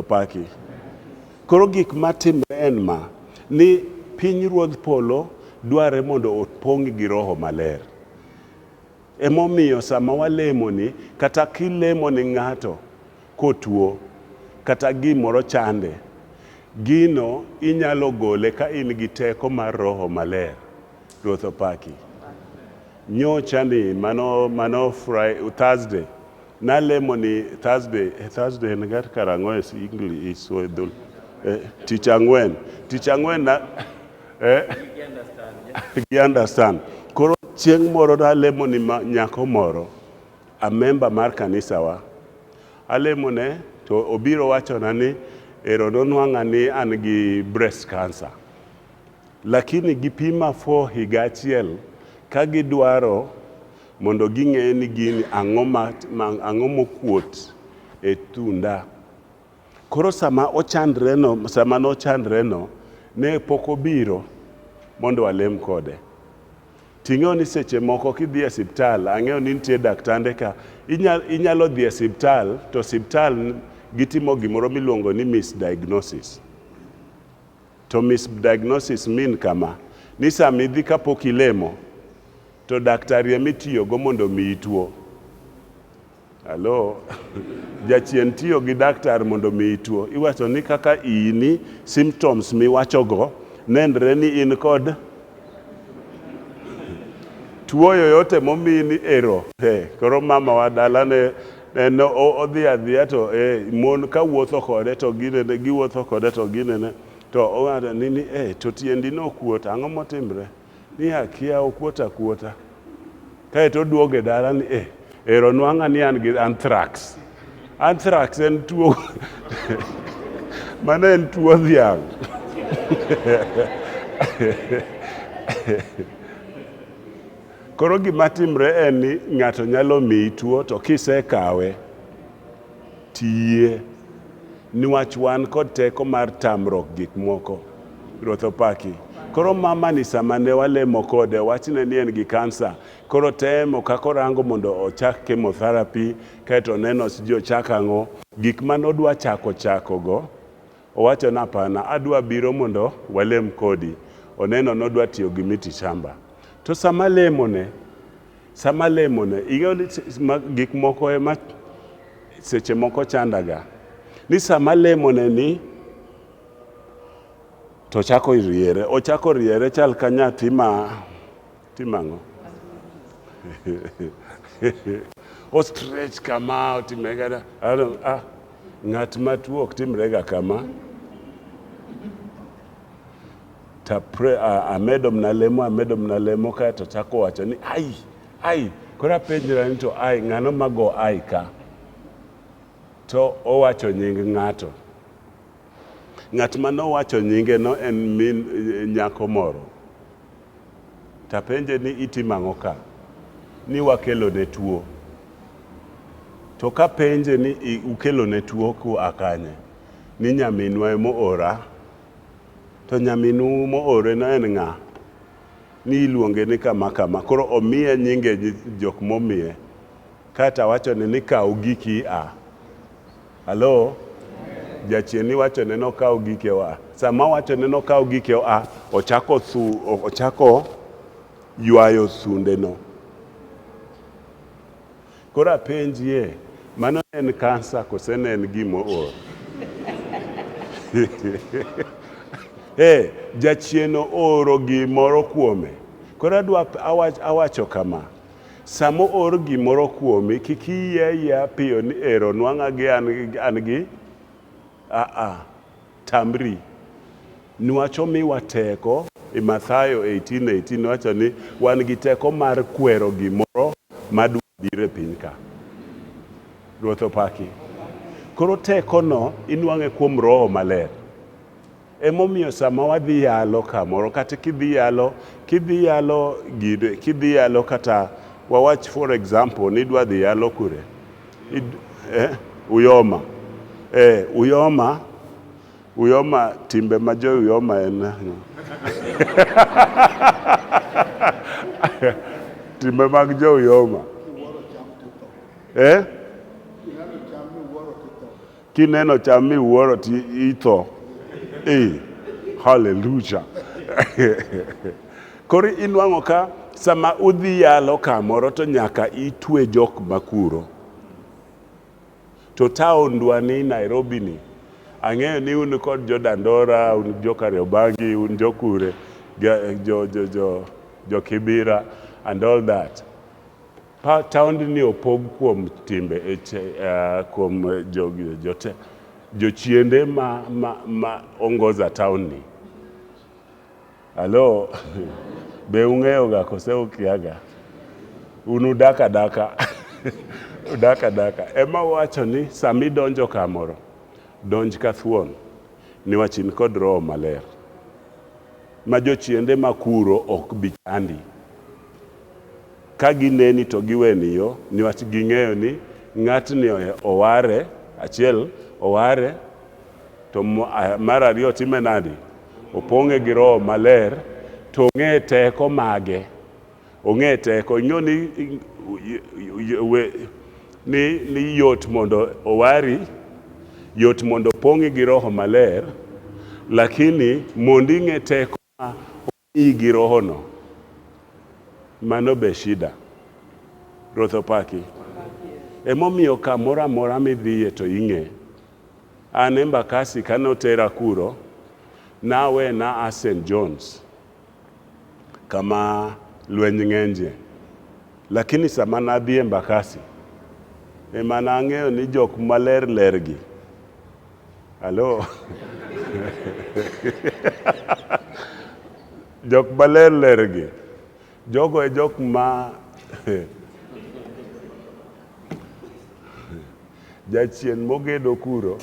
Opaki. Koro gik matimre en ma ni piny ruodh polo dwarre mondo opong' gi roho maler. Emomiyo sama walemoni, kata kilemo ni ng'ato kotuo, kata gimoro chande, gino inyalo gole ka in gi teko mar roho maler. Ruoth opaki. Nyocha ni mano mano Friday, Thursday Nalemo ni Thursday, eh, Thursday en gar karang'o es English is so edhul. Eh, tich ang'wen. Tich ang'wen na eh gi understand. Koro chieng' moro nalemo ni ma- nyako moro a member mar kanisawa. Alemo ne to obiro wachona ni ero nonwang'a ni an gi breast cancer. Lakini gipima for higa achiel ka gidwaro Mondo ging'e ni gini ang'o ma, ma ang'o mokuot e tunda. Koro sama ochandreno, sama nochandreno, ne pok obiro mondo alem kode. Ting'eyo ni seche moko kidhi e siptal, ang'eyo ni nitie daktande ka, inyal, inyalo dhi e siptal to siptal gitimo gimoro miluongo ni misdiagnosis. To misbdiagnosis mean kama, ni sama idhi kapok ilemo to daktari ema itiyogo mondo omiyi tuo. Hello? Jachien tiyo gi daktar mondo omiyi tuo. Iwacho ni kaka iyi ni symptoms miwachogo nenre ni in kod tuo yoyote momiyi ni ero. Hey, koro mama wa dalane En o- odhi adhiya to eh, mon ka wuotho kode to ginene, giwuotho kode to ginene. To ong'ato ni ni eh, to tiendi ne okuot, ang'o motimre? Ni akia okuot akuota. Kae to oduogo e dala ni eh, ero nwang'a ni an gi anthrax. Anthrax en tuo, mano en tuo dhiang'. Koro gima timre en ni ng'ato nyalo miyi tuo to kisekawe tiyie niwach wan kod teko mar tamruok gik moko. Ruoth opaki. Koro mamani sama ne walemo kode wachne ni en gi kansa, koro temo kaka orango mondo ochak chemotherapy kaeto oneno sijui ochak ang'o. Gik mane odwa chako chakogo Owacho na pana adwa biro mondo walem kodi oneno nodwa tiyo gi miti shamba to sama lemone sama lemone ing'eyo ni gik moko ema seche moko chandaga ni sama lemone ni to chako riere ochako riere chal ka nyathi ma Timo ang'o? Ostrech kama otimega ah, ng'at matuo ok timrega kama tapre amedo mna lemo amedo mna lemo kae to chako wacho ni ai ai koro apenjra ni to ai ng'ano mago ai ka to owacho nying ng'ato ng'at ma nowacho nyingeno en min eh, nyako moro Tapenje ni itimo ang'o ka? Ni wakelone tuo. To kapenje ni ukelone tuo kua kanye? Ni nyaminwa ema oora. To nyaminu mooreno en ng'a? Ni iluonge ni kama kama. Koro omiye nyinge jok momiye. Kaeto awachone ni kaw giki ia. Halo? Jachien ni wacho ne nokaw gike oa. Sama wacho ne nokaw gike oa, ochako thu, ochako ywayo thundeno. Koro apenjie, mano ne en kansa kose ne en gimoor? Eh, jachien ooro gimoro kuome. Koro adwa awach, awacho kama. Sama oor gimoro kuomi, kik iyie ayiea piyo ni ero nwang'a gi an an gi. Aa. Tamri. Nwach omiwa teko e Mathayo 18, 18 wacho ni wan gi teko mar kwero gimoro ma dwa biro e piny ka. Ruoth opaki. Koro tekono inwang'e kuom Roho Maler. Emomiyo sama wadhi yalo kamoro kata kidhi yalo kidhi yalo gine kidhi yalo kata wawach for example ni idwa dhi yalo kure Id, eh, uyoma eh, uyoma uyoma timbe ma jo uyoma en ang'o? timbe mag jo uyoma eh? Kineno cham mi wuoro ti itho. Eh, hallelujah. Koro inwang'o ka sama udhi yalo kamoro to nyaka itwe jok makuro. To taondwa ni Nairobi ni, ang'eyo ni un kod jo Dandora, un jo Kariobangi, un jo Kure, ga- jo, jo, jo, jo Kibira and all that. Pa, taondni opog kuom timbe e, uh, kuom jo, jo, jochiende ma, ma, ma ongoza taondni. Halo, be ung'eyoga kose ukiaga? Un udak adaka udak adaka. Ema wacho ni sami donjo kamoro, donj ka thuon, niwach in kod roho maler. Ma jochiende makuro ok bi chandi. Ka gineni to giweni yo niwach ging'eyo ni ng'atni oware, achiel oware to mar ariyo otime nadi? Opong'e gi roho maler to ong'e teko mage. Ong'e teko. Ing'eyo ni ni ni yot mondo owari, yot mondo opong'i gi roho maler, lakini mondo ing'e teko ma Tii gi rohono. Mano be shida. Ruoth opaki. Emomiyo kamoro amora midhiye to ing'e. An Embakasi kane otera kuro, nawe na a Saint John's kama lweny ng'enje. Lakini sama nadhi Embakasi, ema nang'eyo ni jok maler ler gi. Aló. jok maler ler gi jogo e jok ma jachien mogedo kuro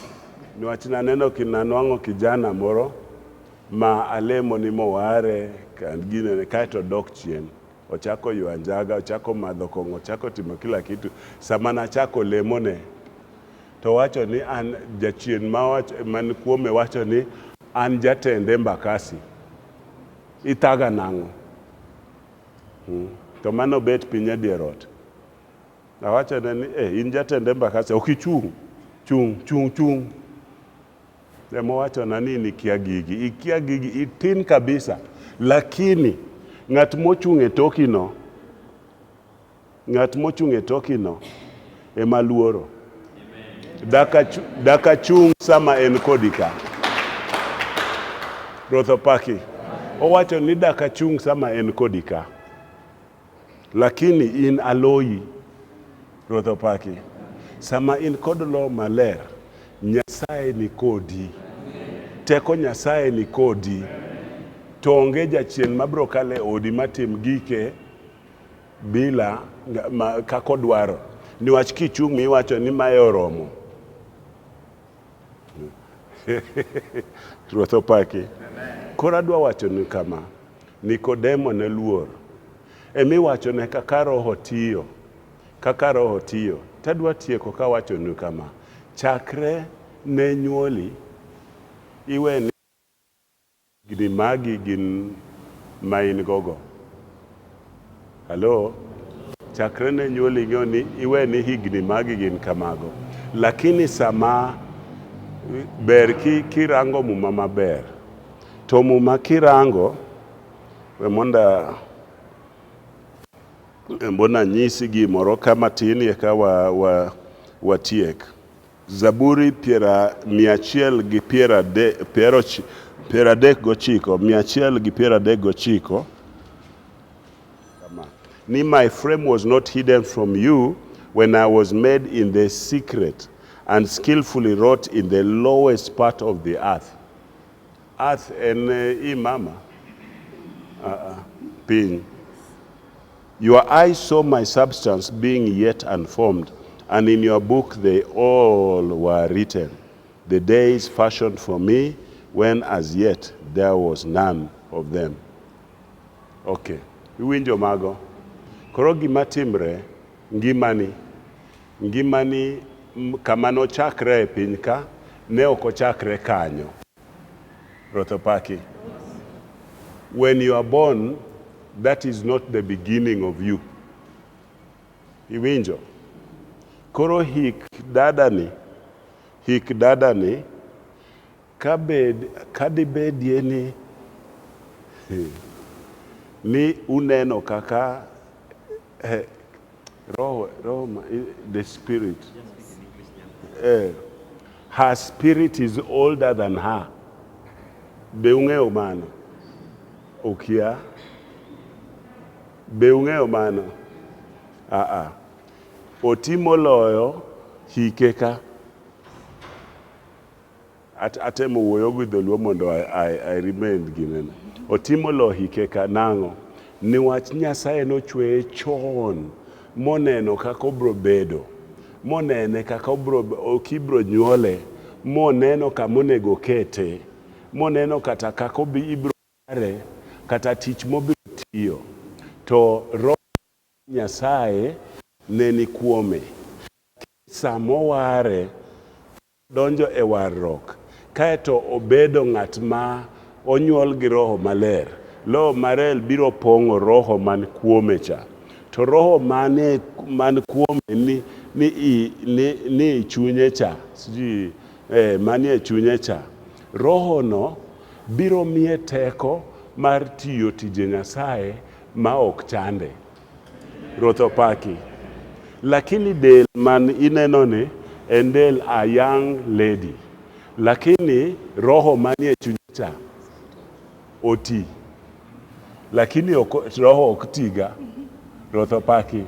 niwach naneno kinanwang'o kijana moro ma alemo ni moware kan ginene kaeto dok chien Ochako ywa njaga, ochako madho kong'o, ochako timo kila kitu. Sama nachako lemone, to wacho ni an jachien man kuome wacho ni an jatend Embakasi. Ithaga nang'o? Hmm. To mano bet piny e dier ot. Awachone ni eh, in jatend Embakasi, ok ichung'. Chung', chung', chung'. Emowachona ni nikia gigi, ikia gigi, itin kabisa. Lakini ng'at mochung' e tokino, ng'at mochung' e tokino ema luoro. Dakachu, dakachung' sama en kodi ka. Ruoth opaki. Owacho ni dakachung' sama en kodi ka. Lakini in aloyi. Ruoth opaki. Sama in kod Loho Maler, Nyasaye ni kodi. Teko Nyasaye ni kodi. To onge jachien mabiro kalo e odi matim gike bila nga- ma- kaka odwaro. Niwach kichung' miwacho ni mae oromo. Ruoth opaki. Koro adwa wachonu kama. Nikodemo ne luor. Ema iwachone kaka Roho tiyo. Kaka Roho tiyo. To adwa tieko ka awachonu kama, chakre ne nyuoli, iwe ni higni magi gin ma in gogo. Halo, chakre ne nyuol ing'eyo ni iwe ni higni magi gin kamago, lakini sama ber ki, kirango muma maber to muma kirango we monda mbona nyisi gimoro ka matin eka wa, wa, watiek Zaburi mia achiel gi piero adek gochiko mia achiel gi piero adek gochiko ni my frame was not hidden from you when I was made in the secret and skillfully wrought in the lowest part of the earth. Earth en eh, i mama uh -uh. piny Your eyes saw my substance being yet unformed, and in your book they all were written, the days fashioned for me, when as yet there was none of them. Okay, iwinjo mago? Koro gima timre, ngimani, ngimani m- kama nochakre e piny ka, ne ok ochakre kanyo. Ruoth opaki. When you are born, that is not the beginning of you. Iwinjo? Koro hik dadani, hik dadani, kabed, kadibedie ni, ni uneno kaka Eh, roho, roho, eh, the spirit. Eh, her spirit is older than her. Be ung'eyo mano? Okia. Be ung'eyo mano? Ah ah. Oti moloyo hike ka. At, atemo wuoyo gi dholuo mondo I, I, I remain ginen otimo lohike ka nang'o niwach nyasaye nochweye chon moneno kaka obro bedo monene kaka obro kibro nyuole moneno kama onego kete moneno kata kaka obi ibro are kata tich mobiro tiyo to roho nyasaye ne ni kuome samoware donjo e warruok kae to obedo ng'at ma onyuol gi Roho Maler, Loho Marel biro pong'o Roho man kuome cha. To Roho mane man kuome ni, ni, i, ni, ni i chunye cha, sijui, eh, manie chunye cha, Rohono biro miye teko mar tiyo tije Nyasaye ma ok chande. Ruoth opaki. Lakini del man inenoni en del a young lady. Lakini roho manie chunyacha oti. Lakini ok, roho ok tiga. Ruoth opaki.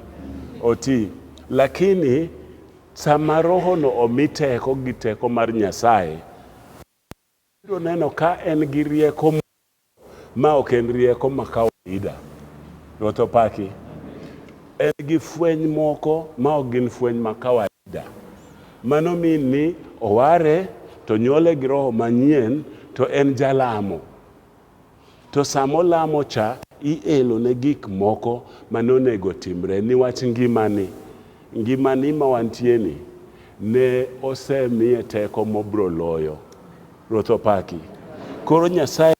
Oti. Lakini sama rohono omi teko gi teko mar Nyasaye, biro neno ka en gi rieko Ma ok en rieko ma kawaida. Ruoth opaki. En gi fweny moko ma ok gin fweny ma kawaida. Mano mean ni oware to nyuole gi roho manyien to en jalamo. To sama olamo cha ielone gik moko ma nonego otimre niwach ngimani. Ngimani ma wantieni ne osemiye teko mobroloyo. Ruoth opaki. Koro Nyasaye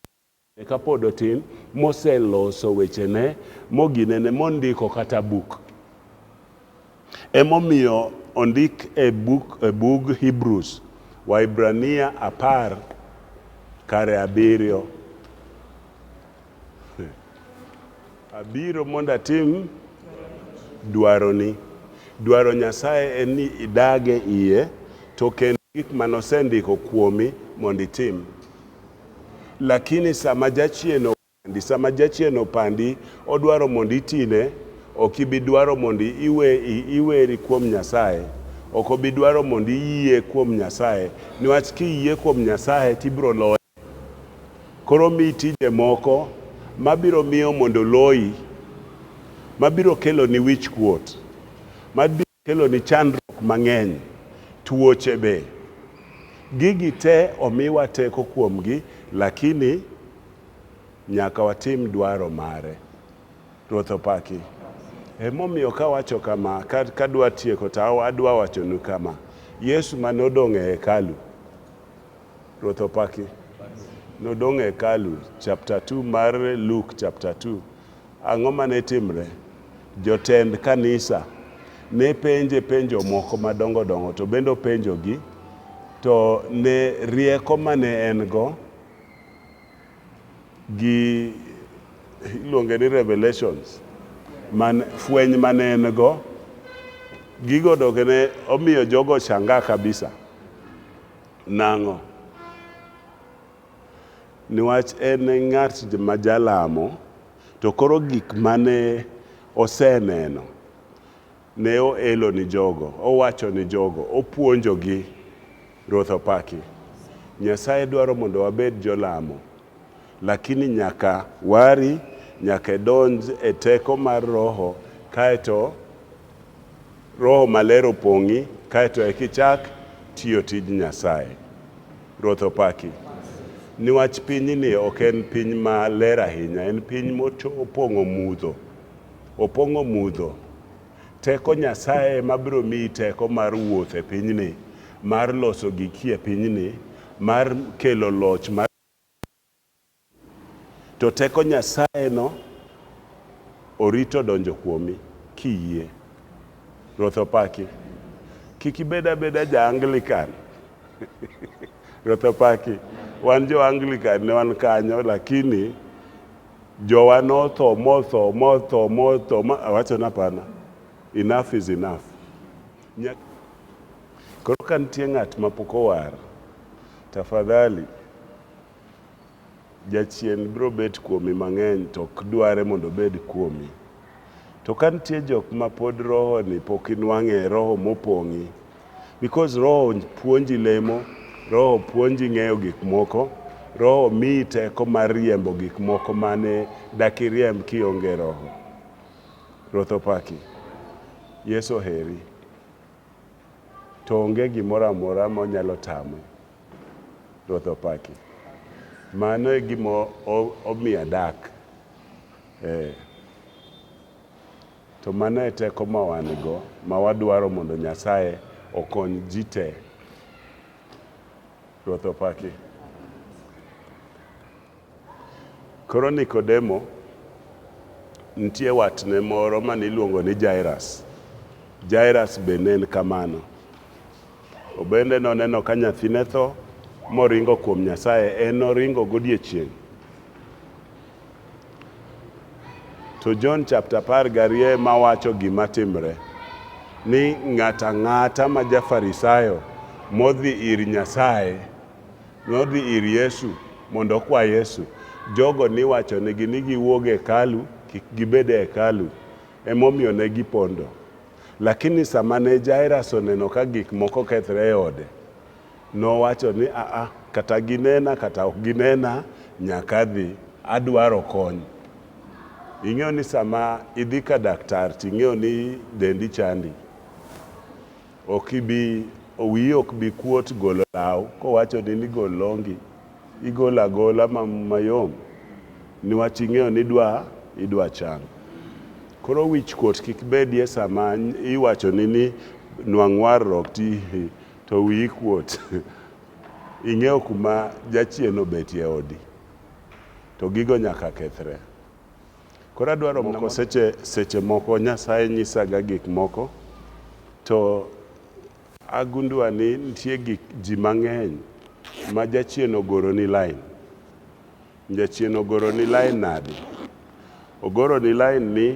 ne kapod otin moseloso wechene moginene mondiko kata buk. Emomiyo ondik e buk e bug Hebrews, Waibrania apar kare abiriyo. Abiro mondo atim dwaroni. Dwaro Nyasaye en ni idage iye to kendo gik mane osendiko kuomi mondo itim. Lakini sama jachien opandi, sama jachien opandi, odwaro mondo itine, ok ibi dwaro mondo iwe, iweri kuom Nyasaye. Ok obi dwaro mondo iyie kuom Nyasaye. Niwach kiyie kuom Nyasaye to ibiro loye. Koro omiyi tije moko mabiro miyo mondo oloyi, mabiro keloni wich kuot, mabiro keloni chandruok mang'eny, tuoche be. Gigi te omiwa teko kuomgi lakini nyaka watim dwaro mare. Ruoth opaki. Emomiyo kawacho kama, ka, kadwa tieko to adwa wachonu kama. Yesu mane odong' e hekalu, Ruoth opaki. Nodong' e hekalu, chapter 2 mar Luke chapter 2. Ang'o mane timre? Jotend kanisa ne penje penjo moko madongo dongo to bende openjogi to ne rieko mane en go gi iluonge ni revelations man fweny mane en go gigo doke ne omiyo jogo shanga kabisa Nang'o? Niwach en e ng'at ma jalamo, to koro gik mane oseneno ne oelo ni jogo, owacho ni jogo, opuonjogi. Ruoth opaki. Nyasaye dwaro mondo wabed jolamo Lakini nyaka wari, nyaka idonj e teko mar Roho, kaeto Roho Maler opong'i, kaeto eka ichak tiyo tij Nyasaye. Ruoth opaki. Niwach pinyni ok en piny ma ler ahinya, en piny mopong'o mudho. Opong'o mudho. Teko Nyasaye ema biro miyi teko mar wuotho e pinyni, mar loso giki e pinyni, mar kelo loch mar. To teko Nyasayeno orito donjo kuomi, kiyie. Ruoth opaki. Kik ibed abeda ja Anglican. Ruoth opaki. Wan jo Anglican ne wan kanyo lakini jowa notho motho motho motho ma awacho ni hapana. Enough is enough. Nyak Koro ka nitie ng'at ma pok owar, Tafadhali, Jachien biro bet kuomi mang'eny to ok dware mondo obed kuomi. To ka nitie jok ma pod roho ni pok inwang'e roho mopong'i. Because roho puonji lemo, roho puonji ng'eyo gik moko, roho miyi teko mar riembo gik moko mane dak iriemb kionge roho. Ruoth opaki. Yesu oheri. To onge gimoro amora ma onyalo tama. Ruoth opaki. Mano e gima omiyo adak. Ee. To mano e teko ma wan go, ma wadwaro mondo Nyasaye okony ji te. Ruoth opaki. Koro Nikodemo, nitie watne moro mane iluongo ni Jairus. Jairus be ne en kamano. Obende noneno ka nyathine tho moringo kuom Nyasaye, en noringo godiechieng'. To John chapter apar gariyo ema wacho gima timre ni ng'ato ang'ata ma ja Farisayo modhi ir Nyasaye Nodhi ir Yesu mondo okwa Yesu. Jogo niwachonigi ni giwuog e hekalu, kik gibed e hekalu, emomiyo ne gipondo. Lakini sama ne Jairas oneno ka gik moko kethre e ode, nowacho ni, Aa, kata ginena kata ok ginena, nyaka adhi. Adwaro kony. Ing'eyo ni sama idhi ka daktar ting'eyo ni dendi chandi, Ok ibi wiyi ok bi kuot golo law kowachoni ni gol longi, igolo agola mayom niwach ing'eyo ni idwa idwa chang. Koro wich kuot kik bedie sama iwachoni ni nwang' warruok ti to wiyi kuot. Ing'eyo kuma jachien obetie e odi to gigo nyaka kethre. Koro adwaro moko seche seche moko Nyasaye nyisaga gik moko to agundua ni nitie gik ji mang'eny ma jachien ogoro ni lain. Jachien ogoro ni lain nadi? Ogoro ni lain ni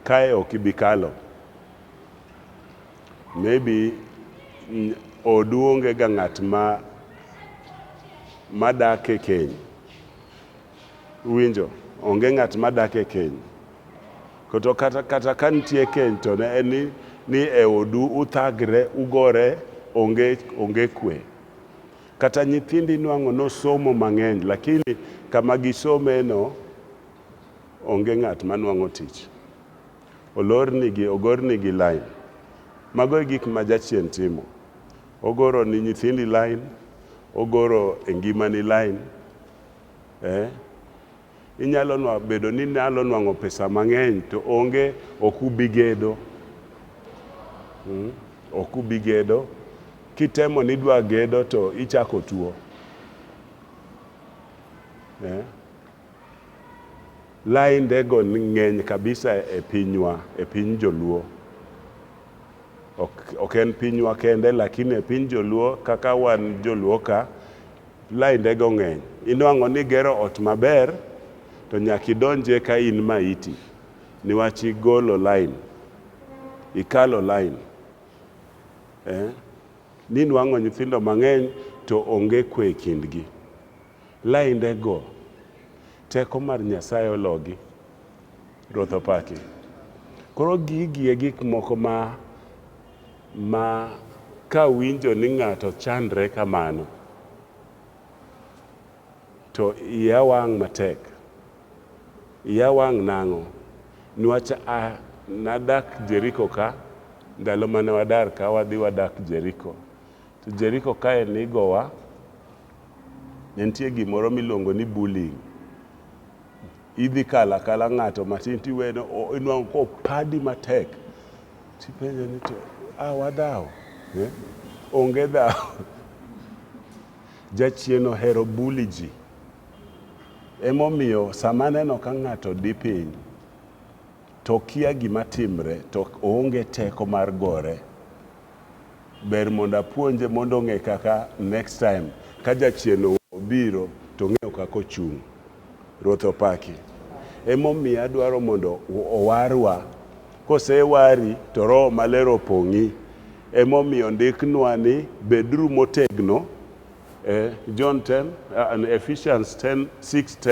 kae ok ibi kalo. Maybe odu onge ga ng'at ma ma dak e keny. Uwinjo, onge ng'at ma dak e keny. Koto kata, kata ka nitie keny to ne en ni, ni e odu uthagre, ugore, onge, onge kwe. Kata nyithindi nwang'o nosomo mang'eny, lakini kama gisomeno onge ng'at ma nwang'o tich. Olornigi, ogornigi line. Mago e gik ma Jachien timo. Ogoro ni nyithindi line, ogoro e ngimani line, Eh? Inyalo nwa, bedo ni nyalo nwang'o pesa mang'eny to onge ok ubi gedo. Mm? Ok ubi gedo. Kitemo ni idwa gedo to ichako tuo. Eh? Laindego ng'eny kabisa e pinywa, e piny joluo. Ok, ok en pinywa kende lakini e piny joluo kaka wan joluo ka Lainde go ng'eny. Inwang'o ni gero ot maber to nyaka idonje ka in maiti niwach igolo line, ikalo line. Eh, ninwang'o nyithindo mang'eny to onge kwe e kindgi. Lainde go, teko mar Nyasaye ologi. Ruoth opaki. Koro gigi e gik moko ma ma ka winjo ni ng'ato chandre kamano to iya wang' matek. Iya wang' nang'o? Niwach a nadak Jeriko ka, ndalo mane wadar ka wadhi wadak Jeriko. To Jeriko kae nigowa, ne nitie gimoro miluongo ni bullying. idhi kalo akala ng'ato matin tiwene o- inwang'o kopadi matek tipenje ni to a wadhawo eh? onge dhawo jachien ohero buli ji emomiyo sama aneno ka ng'ato di piny To okia gima timre, to oonge teko mar gore. Ber mondo apuonje mondo ong'e kaka next time ka jachien obiro to ong'eyo kaka ochung'. Ruoth opaki. Emomiyo adwaro mondo owarwa. Kosewari to Roho Maler opong'i. Emomiyo ondiknwa ni beduru motegno. Eh, John 10, uh, Ephesians 10, 6, 10.